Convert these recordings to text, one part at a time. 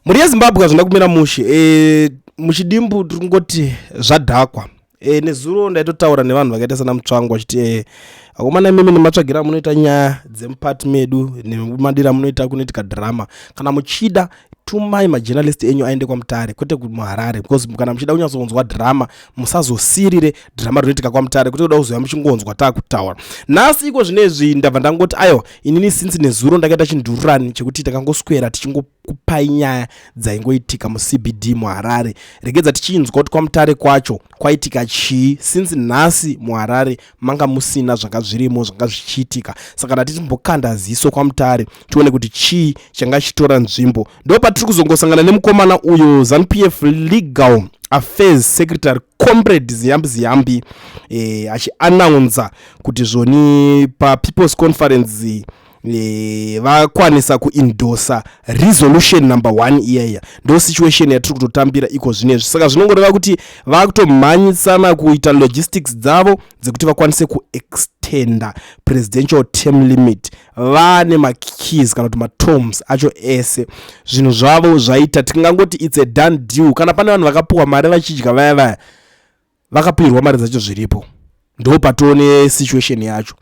mhuri yezimbabwe hazvina kumira mushe e, muchidimbu tiri kungoti zvadhakwa e, nezuro ndaitotaura nevanhu vakaita sana mutsvango vachiti e, akomana imimi nematsvagira munoita nyaya dzemupati medu nemadira munoita kunoitika drama kana muchida tumai majournalist enyu aende kwamutare kwete kumuharare because kana muchida kunyatsonzwa drama musazosirire drama rinoitika kwamutare kwete kuda kuzoya muchingonzwa taakutaura nhasi iko zvine izvi ndabva ndangoti aiwa inini since nezuro ndakaita chindururani chekuti takangoswera tichingo kupai nyaya dzaingoitika mucbd muharare regedza tichinzwa kuti kwamutare kwacho kwaitika chii since nhasi muharare manga musina zvanga zvirimo zvanga zvichiitika saka ndatiti mbokanda ziso kwamutare tione kuti chii changa chichitora nzvimbo ndo patiri kuzongosangana nemukomana uyo zanupf legal affairs secretary comrade ziyambi ziyambi eh, achianaunza kuti zvoni papeoples conference eh, Eh, vakwanisa kuindosa resolution number one iyaiya ndo situation yatiri kutotambira iko zvinezvi saka zvinongoreva kuti vakutomhanyisana kuita logistics dzavo dzekuti vakwanise kuextenda presidential term limit vane makeys kana kuti matoms acho ese zvinhu zvavo zvaita tingangoti its a done deal kana pane vanhu vakapuwa mari vachidya vaya vaya vakapihirwa mari dzacho zviripo ndo patoone situation yacho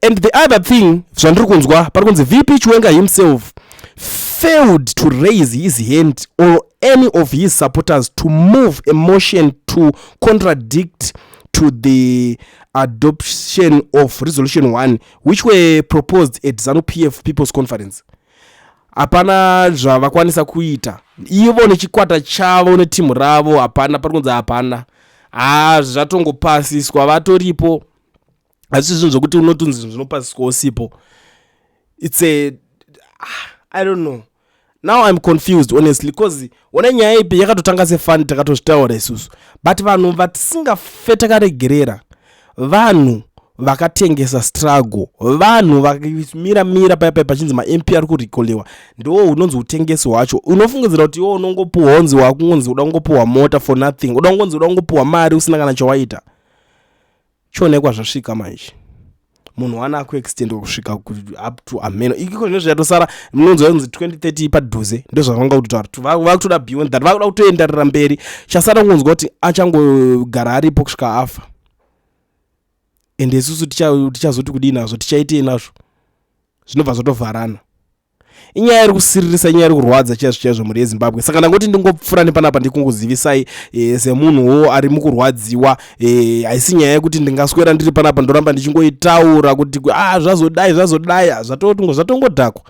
and the other thing zvandiri kunzwa pari kunzi vp chiwenga himself failed to raise his hand or any of his supporters to move a motion to contradict to the adoption of resolution 1 which were proposed at zanu pf people's conference hapana zvavakwanisa kuita ivo nechikwata chavo netimhu ravo hapana pari kunzi hapana haa zvatongopasiswa vatoripo hazvisi zvinhu zvokuti unotunzi zvinhu zvinopasiswa usipo its a ah, i don't know now i'm confused honestly because one nyaya ipi yakatotanga sefani takatozvitaura isusu but vanhu vatisingafe takaregerera vanhu vakatengesa struggle vanhu vakamira mira paya paya pachinzi mamp ari kurikolewa ndiwo unonzi utengesi hwacho unofungidzira kuti iwo unongopuwa honzi wakungonzi uda kungopuwa mota for nothing uda kungonzi uda kungopuwa mari usina kana chawaita chionekwa zvasvika manje munhu wana akuextendwa kusvika up to ameno ikiko zvine zvichatosara munonzwa kunzi 2030 padhuze ndozvavanga kutotaura kuti vakutoda beyond that vakuda kutoenderera mberi chasara kungonzwa kuti achangogara aripo kusvika afa ende isusu tichazoti kudii nazvo tichaitei nazvo zvinobva zvatovharana inyaya iri kusiririsa inyaya iri kurwadza chaizvo chaizvo mhuri yezimbabwe saka ndangoti ndingopfura nepanapa ndikungozivisai e, semunhuwo ari mukurwadziwa e, haisi nyaya yekuti ndingaswera ndiri panapa ndoramba ndichingoitaura kuti ah, zvazodai zvazodai ah, zvatotingo zvatongodhakwa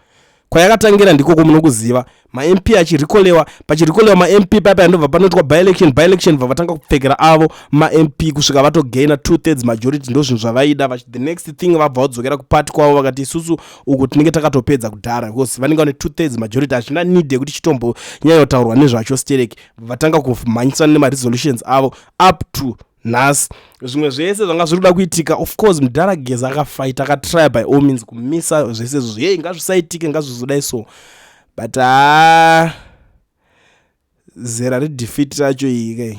kwayakatangira ndikoko munokuziva mamp achirikolewa pachirikolewa mamp paya paya ndobva panoitwa byelection byelection bva vatanga kupfekera avo mamp kusvika vatogaina two thirds majority ndozvinhu zvavaida the next thing vabva vadzokera kupati kwavo vakati isusu uko tinenge takatopedza kudhara because vanenge vane two thirds majority hachina need yekuti chitombo nyaya yotaurwa nezvacho sterek vatanga kumhanyisana nemaresolutions avo up to nhasi zvimwe zvese zvanga zviri kuda kuitika of course mudhara gezi akafaita akatrya by all means kumisa zvese izvozvo yei ngazvisaitike ngazvizodai so but haa zera redefeat racho iyi kai